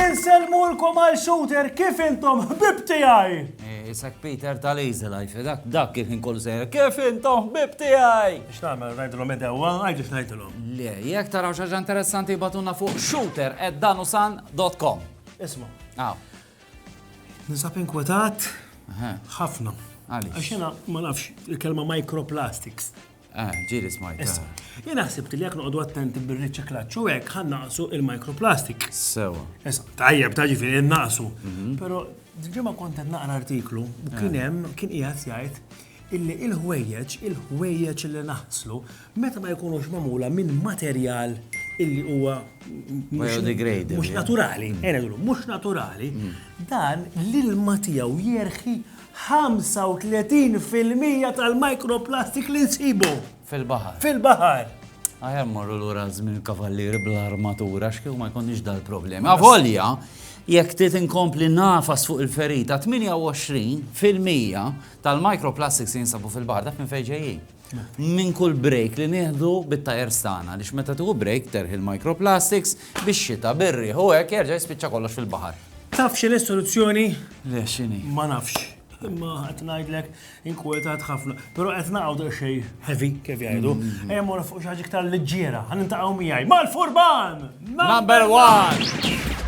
Inselmulkom għal shooter kif intom ħbib tiegħi! Isek Peter tal-Easel għajfi, dak dak kif inkollu sejra, kif intom ħbib tiegħi! X'tagħmel ngħidilhom edewa, għajdu x'ngħidilhom. Le, jekk taraw xi ħaġa interessanti batunna fuq shooter@danusan.com. Isma. Aw. Nisab inkwetat ħafna. Għax jena ma nafx il-kelma microplastics. Ah, ġiri smajt. Issa, ah. jena ħsibt li jekk noqogħdu attenti bir-riċiklaġġ u hekk ħan naqsu il-microplastic. Sewa. Issa, tajjeb ta' ġifieri naqsu. Mhm. Però ġimgħa kont qed naqra artiklu u kien ah. hemm kien qiegħed jgħid illi il-ħwejjeġ, il-ħwejjeġ li naħslu, meta ma jkunux magħmula minn materjal illi huwa biodegradable. Mhux naturali, mm. mhux naturali, mm. dan l-ilma tiegħu jerħi 35% tal-mikroplastik li nsibu. Fil-bahar. Fil-bahar. Għajem morru l-ura zmin kavallir bl-armatura, xkiju ma jkunix dal-problemi. Għavolja, jek tit inkompli nafas fuq il-ferita, 28% tal-microplastics li jinsabu fil-baħar, taf minn fejn ġejjin? Minn kull break li nieħdu bit-tajers tagħna, għaliex meta tieħu break terħi l-microplastics, bix-xita, bir-riħ u hekk jerġa' jispiċċa kollox fil-baħar. Taf x'inhi s-soluzzjoni? Le, x'inhi? Ma nafx. Imma qed ngħidlek inkwetat ħafna. Però qed naqgħu daqsxejn heavy kif jgħidu. Ejja mmorru fuq xi ħaġa iktar liġġiera. Ħa nintaqgħu miegħi mal-furban! Number one!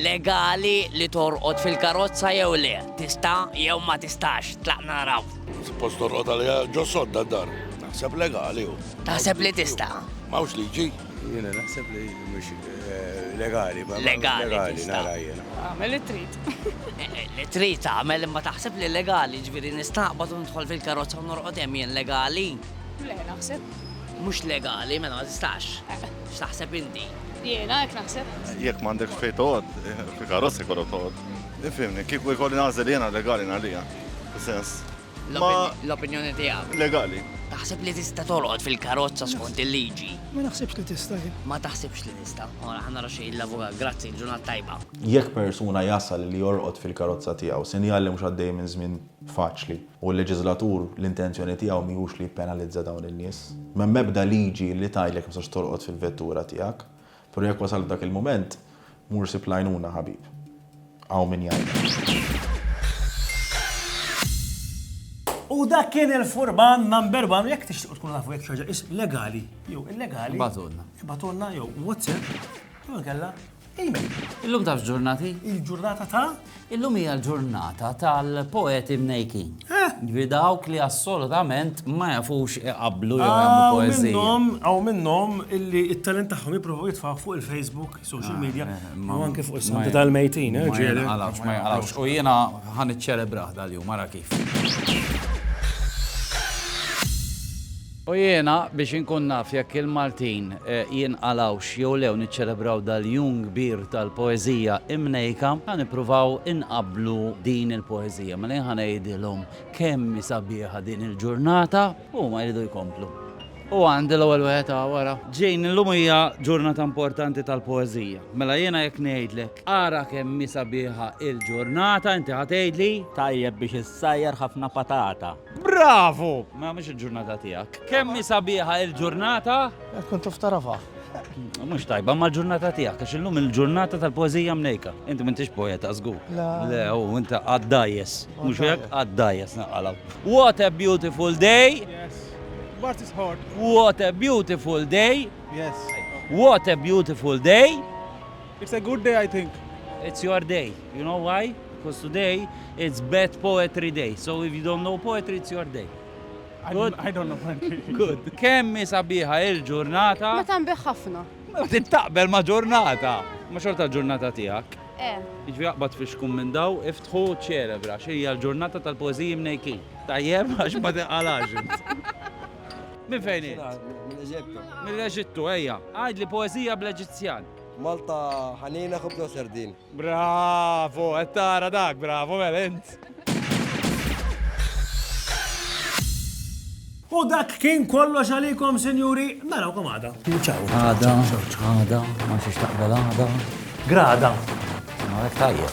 Legali li torqod fil-karozza jew le, tista' jew ma tistax, tlaq naraw. Suppost torqod għalija ġo sodda dar. Naħseb legali u. Taħseb li tista'? Mawx liġi. Jiena naħseb li mhux eh, legali. Legali, nara jiena. Għamel li trid. Eh, eh, li trid għamel imma taħseb li legali, ġifieri nistaqbad u nidħol fil-karozza u norqod hemm jien legali. Le, naħseb. Mhux legali, mela ma tistax. X'taħseb inti? Jiena hekk naħseb. Jekk m'għandekx fejn toqgħod, fil-karozza jkollok toqgħod. Ifhimni, kieku jkolli nagħżel jiena legali ngħalija. Sens. L-opinjoni tiegħek. Legali. Taħseb li tista' tolqod fil-karozza skont il-liġi? Ma naħsibx li tista' jien. Ma taħsibx li nista'. Ora ħa nara xi l-avukat. Grazzi, ġurnata tajba. Jekk persuna jasal li jorqod fil-karozza tiegħu, sinjal li mhux għaddej minn żmien faċli. U l-leġiżlatur l-intenzjoni tiegħu mhijiex li jippenalizza dawn in-nies. M'hemm ebda liġi li tgħidlek ma tistax torqod fil-vettura tiegħek. Però jekk wasalt dak il-mument, mur sib l-għajnuna ħabib. Hawn min jgħinek. U dak kien il-furban number one, jekk tixtiqu tkunu tafu jekk xaġa is legali, jew illegali. Ibatulna. Ibatulna jew WhatsApp, jew kella Amen. Illum taf ġurnati? Il-ġurnata ta'? Illum hija l-ġurnata tal-poeti mnejkin. Eh? Ġvi dawk li assolutament ma jafux iqablu jew jagħmlu ah, poeżija. Minnhom hawn minnhom illi t-talent tagħhom jippruvaw jitfaħ fuq il-Facebook, social ah, media, eh, eh, u anke fuq is-Santa tal-Mejtin, ġieli. Għalafx ma jaqalafx. U jiena ħan iċċelebraħ dal-jum, ara kif. U jiena, biex inkun naf jekk il-Maltin jinqalgħux jew le u niċċelebraw dal-jum kbir tal-poeżija imnejka, ħa nippruvaw inqabblu din il-poeżija. Mela jien ħa ngħidilhom kemm hi sabiħa din il-ġurnata u huma jridu jkomplu. U għandi l-ewwel wieħed hawn wara. Jane, illum hija ġurnata importanti tal-poeżija. Mela jiena jekk ngħidlek, ara kemm hi sabiħa il-ġurnata, inti ħa tgħidli. Tajjeb biex issajjar ħafna patata. Bravo! Ma mhux il-ġurnata tiegħek. Kemm hi sabiħa il-ġurnata? Kun tuf tarafha. Mhux tajba ma l-ġurnata tiegħek għax illum il-ġurnata tal-poeżija mnejka. Inti m'intix poeta żgur. Le, u inta għaddajjes. Mhux hekk għaddajjes naqalaw. What a beautiful day! Yes. What is hot? What a beautiful day! Yes. What a beautiful day! It's a good day I think. It's your day. You know why? Because today it's bad poetry day. So if you don't know poetry, it's your day. Good? I don't know poetry. Good. Kemmi sabiħa il-ġurnata. Meta nbiħ ħafna. Meta taqbel ma' ġurnata. Ma' xorta ġurnata tiegħek. Eh. Iġvi jaqbad fi xkum minn daw, iftħu ċelebra, xejja l-ġurnata tal-poeziji mnejki. Tajjeb, għax ma tiqalax. Min fejn? Mill-Eġittu. Mill-Eġittu, ejja. Għajd li poezija bl-Eġizzjan. Malta ħanina ħobza u serdin. Bravo, qed tara dak, bravo mela int. U dak kien kollox għalikom, sinjuri, narawkom għada. Ciao. Għada, għada, ma nxiex taqbel għada. Grada. Għalek tajjeb.